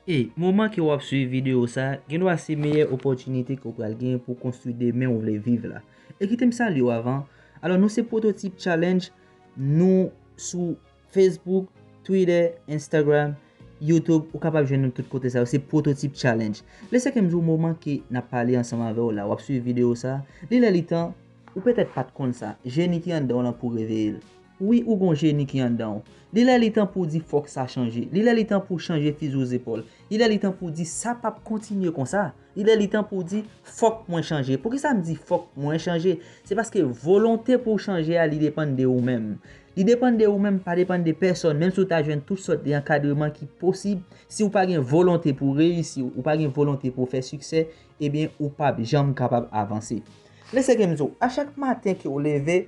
E, moman ke wap swiv video sa, gendwa se meyè opòtinite ke w pral gen pou konstwi demen ou vle viv la. E kite m salye w avan, alò nou se Pwototip Challenge, nou sou Facebook, Twitter, Instagram, Youtube, ou kapab jwenn nou tout kote sa yo, se Pwototip Challenge. Le sa ke m di w moman ke nap pale ansanm avè w la, wap swiv video sa, li lè li tan, ou petèt pat konn sa, jeni ki anndan w lan pou reveye l. Wi ou gon jeni ki andan w. Li lè li tan pou w di fòk sa chanje. Li lè li tan pou w chanje fizi w zepòl. Li lè li tan pou w di sa p ap kontinye konsa. Li lè li tan pou w di fòk mwen chanje. Poukisa m di fòk mwen chanje? Se paske volonte pou w chanje a li depann de ou menm. Li depann de ou menm pa depann de pèsòn menm si w ta jwenn tout sòt de ankadreman ki posib si w pa gen volonte pou w reyisi ou pa gen volonte pou w fè siksè ebyen ou p ap janm kapab avanse. Lè se ke m di w a chak maten ke w leve.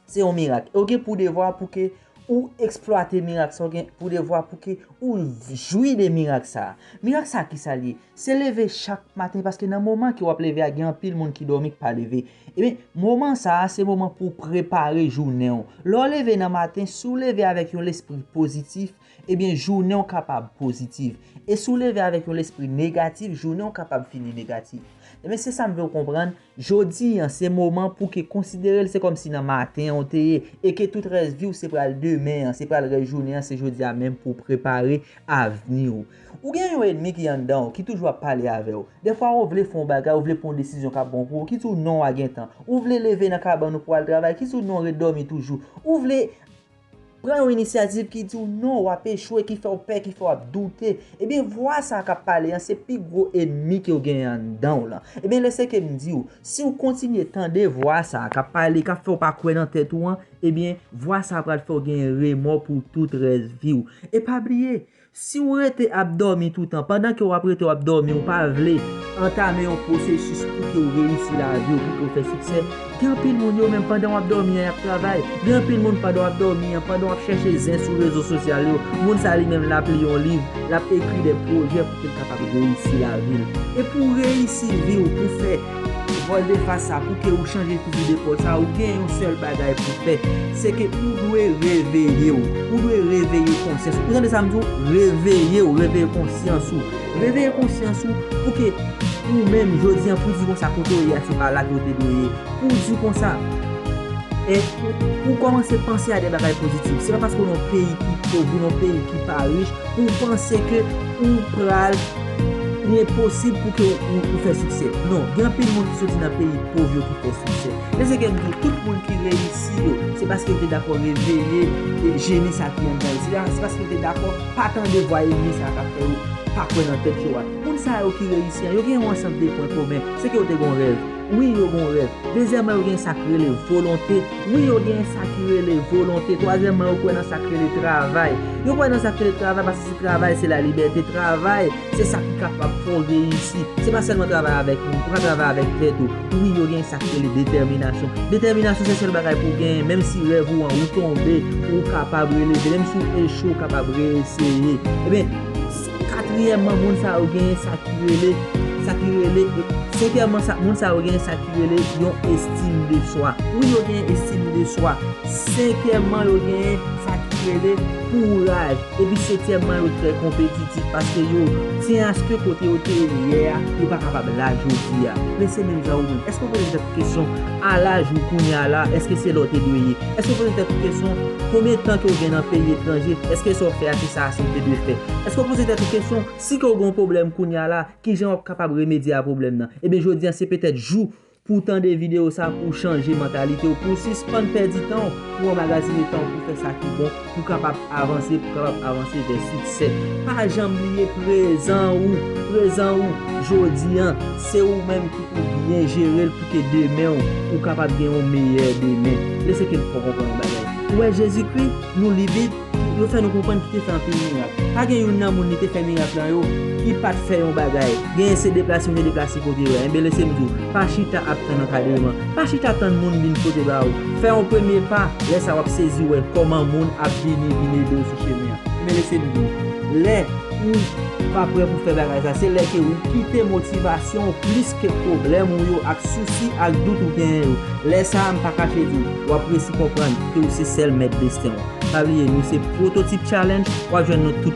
Se yon mirak. E w gen pou devwa pou ke ou eksplwate mirak sa. Ou gen pou devwa pou ke ou jwi de mirak sa. Mirak sa ki sa li ye? Se leve chak maten paske nan moman ke w ap leve a gen anpil moun ki dòmi ki pa leve. Ebyen, moman sa se moman pou w prepare jounen w. Lè w leve nan maten, si w leve avèk yon lespri pozitif, ebyen jounen w kapab pozitif. E si w leve avèk yon lespri negatif, jounen w kapab fini negatif. Ebyen, se sa m vle w konprann. Jodi an se moman pou ke konsidere l se kòm si nan maten an ou te ye e ke tout rès vi w se pral demen an, se pral rès jounen an, se jodi a menm pou w prepare avni w. Ou gen yon enmi ki anndan w, ki toujou ap pale avè w. Dèfwa ou vle fè yon bagay, ou vle pran yon desizyon k ap bon pou ou, ki di w non a gentan. Ou vle leve nan kabann ou pou w al travay, ki di w non ret dòmi toujou. Ou vle. Pran yon inisyativ ki di w non, w ap echwe, ki fè w pè, ki fè w ap doute. Ebyen vwa sa a k ap pale an se pi gwo enmi ke w genyen anndan w lan. Ebyen lè se ke m di w, si w kontinye tande vwa sa a k ap pale, k ap fè w pa kwè nan tèt ou an, ebyen vwa sa a pral fè w genyen remò pou tout rès vi w. E pa bliye, Si ou rete ap dòmi toutan, pandan ke ou ap rete ou ap dòmi ou pa vle antame yon pwosesis pou ke ou reyisi lavi ou, pou ke ou fè siksè, gen anpil moun yo menm pandan ou ap dòmi an y ap travay, gen anpil moun pandan ou ap dòmi an, pandan ou ap chèche zen sou rezo sosyal yo, moun sa li menm l ap li yon liv, l ap ekri de pwojè pou ke l kapab reyisi lavi l. E pou reyisi vi ou, pou fè. Paul de fas sa pouki ou chanje fizi de Paul sa ou gen yon sèl bagay pou fè se ke ou dwe reveye ou ou dwe reveye konsyans ou tande sa m di w reveye ou reveye konsyans ou reveye konsyans ou pou ke ou menm jodi an pou di konsa kote ou ye a se pa la ke ou te dwe ye pou di konsa e pou kòmanse panse a de bagay pozitif se pa paske ou nan yon peyi ki pov ou nan yon peyi ki pa rich pou w panse ke ou pral Li enposib pou ke ou fè siksè. Non, gen anpil moun ki soti nan peyi pov yo ki fè siksè. Men se ke m di w, tout moun ki reyisi yo, se paske yo te dakò reveye jeni sa ki anndan yo. Se paske yo te dakò pa tande vwa enmi sa a k ap fè yo pa kwè nan tèt yo a. Moun sa yo ki reyisi an, yo gen yon ansanm de pwen komen. Se ke yo te gen yon rèv. Wi yo gon rèv. Dezyèman yo gen sa k rele volonte. Wi yo gen sa ki rele volonte. Twazyèman yo kwè nan sa k rele travay. Yo kwè nan sa k rele travay paske se travay se la libète. Travay se sa ki kapab fè w reyisi. Se pa sèlman travay avèk moun. Ou ka travay avèk tèt ou. Wi yo gen sa k rele detèminasyon. Detèminasyon se sèl bagay pou w genyen. Menm si rèv ou an ou tonbe ou kapab releve. Menm si w echwe ou kapab re-eseye. Ebyen. Katriyèmman, moun sa yo genyen sa ki rele, sa ki rele, senkyèmman sa, moun sa yo genyen sa ki rele yon estim de swa. Wi yo genyen estim de swa. Senkyèmman yo genyen sa ki rele kouraj. Epi setyèmman yo trè konpetitif paske yo tyen aske kote yo te ye yè a, yo pa kapab la jodi a. Men se menm jan ou menm. Èske ou poze tèt ou kesyon a laj ou kounya la, èske se la ou te dwe ye? Èske w poze tèt ou kesyon, konbyen tan ke w gen nan peyi etranje, èske sa w fè a se sa ase w te dwe fè? Èske w poze tèt ou kesyon, si ke w gen yon pwoblèm kounya la, kijan w ap kapab remedye a pwoblèm nan? Ebyen jodi an se petèt jou pou w tande videyo sa pou w chanje mantalite w, pou w sispann pèdi tan w pou w anmagazine tan w pou w fè sa ki bon, pou kapab avanse, pou kapab avanse vè siksè. Pa janm bliye prezan ou, prezan ou jodi an, se ou menm ki pou byen jere l pou ke demen ou, ou kapab gen yon meyè demen. E se ke n fè w konprann yon bagay. Ou wè Jezikri, nou li Bib, yo fè nou konprann ki te fè anpil mirak. Pa gen youn nan moun li te fè mirak lan yo ki pa t fè yon bagay. Genyen se deplase ou te deplase kote yo a. Enben lese m di w, pa chita ap tann ankadreman. Pa chita tann moun vin pote ba ou. Fè yon premye pa, lè sa w ap sezi wè kòman moun ap vini vin ede w sou chemen an. Men lese li vini. Lè ou pa prè pou fè bagay sa, se lè ke ou kite motivasyon ou plis ke pwoblèm ou yo ak sousi ak dout ou genyen yo. Lè sa a, m pa kache di w, w ap resi konprann ke ou se sèl mèt desten w. Pa bliye, nou se Pwototip Challenge, w ap jwenn nou tout.